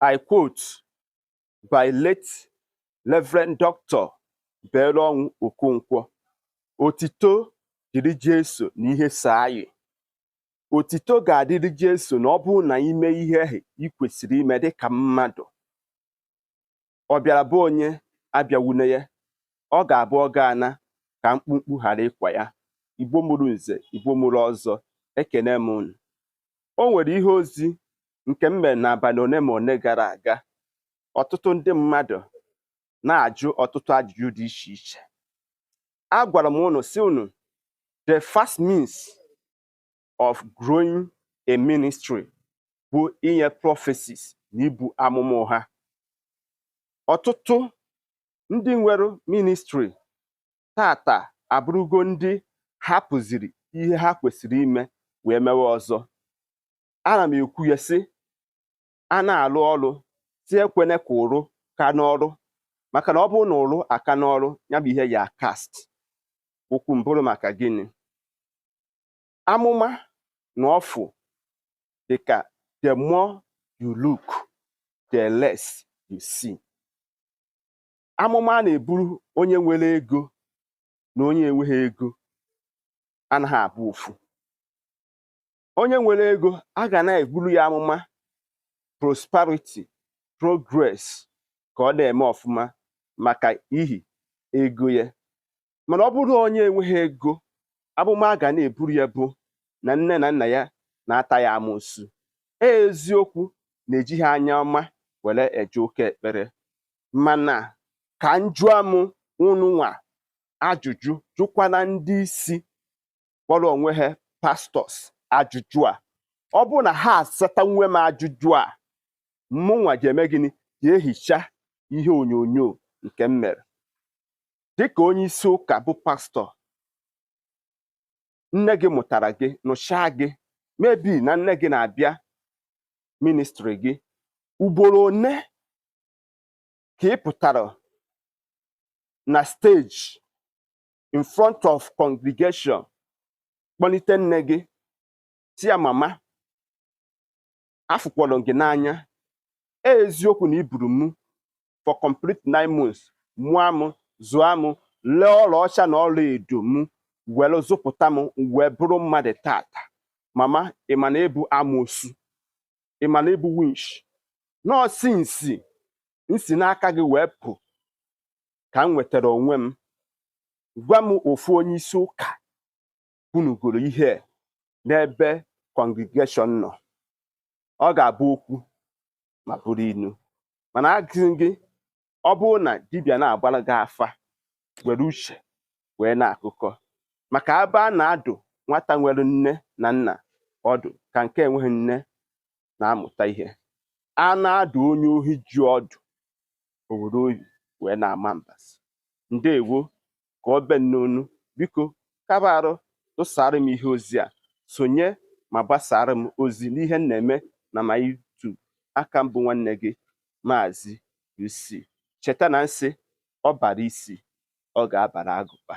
I quote by late Reverend Dr. Belonwu Okonkwo otito dịrị Jesu na ihe so anyị otito ga-adịrị Jesu na ọ bụrụ na i mee ihe ahụ ị kwesịrị ime dịka mmadụ ọ bịara be onye abịawune ya ọ ga-abụ ọ ga-ana ka mkpumkpu ghara ịkwa ya igbo mụrụ nze igbo mụrụ ọzọ ekene m unu o nwere ihe ozi nke m mere n'abalị one ma one gara aga ọtụtụ ndị mmadụ na-ajụ ọtụtụ ajụjụ dị iche iche agwara m unu sị unu the fast means of growing a ministry bụ inye prophecies na ibu amụma ụgha ọtụtụ ndị nwere ministry tata abụrụgo ndị hapụziri ihe ha kwesịrị ime wee mewe ọzọ ana m ekwu ya sị a na-alụ ọrụ sị ekwene ka ụrụ ka n'ọrụ maka na ọ bụrụ na ụrụ aka n'ọrụ ya bụ ihe ya cast okwu m bụrụ maka gịnị amụma na ọfụ dị ka the more you look the less you see amụma a na-eburu onye nwere ego na onye enweghị ego anaghị abụ ofu onye nwere ego a ga na-eburu ya amụma prosperity progress ka ọ na-eme ọfụma maka ihi ego ya mana ọ bụrụ onye enweghị ego amụma a ga na-eburu ya bụ na nne na nna ya na-ata ya amusu e eziokwu na ejighị anya ọma were eje ụka ekpere mana ka m jụọ m ununwa ajụjụ jụkwana ndị isi kpọrọ onwe ha pastors ajụjụ a ọ bụrụ na ha asatanwu m ajụjụ a mụnwa ga-eme gịnị ga-ehicha ihe onyonyo nke m mere dịka onye isi ụka bụ pastor nne gị mụtara gị nurture gị maybe na nne gị na-abịa ministry gị ugboro one ka ị pụtara na stage in front of congregation kpọlite nne gị sị ya mama afụkwọrọ m gị n'anya e eziokwu na i buru mụ for complete nine months mụọ mụ zụọ mụ lee ọlaọcha na ọla edo mụ were zụpụta m wee bụrụ mmadụ tata mama ị ma na ị bụ amoosu ị ma na ị bụ winch nọọsụ m si m si n'aka gị wee pụ ka m nwetara onwe m gwa m ofu onye isi ụka kwunugoro ihe n'ebe congregation nọ ọ ga-abụ okwu ma bụrụ inu mana agụzi gị ọ bụrụ na dibịa na-agbara gị afa were uche wee na-akụkọ maka ebe a na-adụ nwata nwere nne na nna ọdụ ka nke enweghị nne na-amụta ihe a na-adụ onye ohi ji ọdụ o were obi wee na-ama mbazụ ndewo ka ọ bịa n'onu biko kaba arụ tụsara m ihe ozi a sonye ma gbasaara m ozi n'ihe m na-eme n'ama YouTube a ka m bụ nwanne gị maazị UC cheta na m sị ọ bara isi ọ ga-abara agụba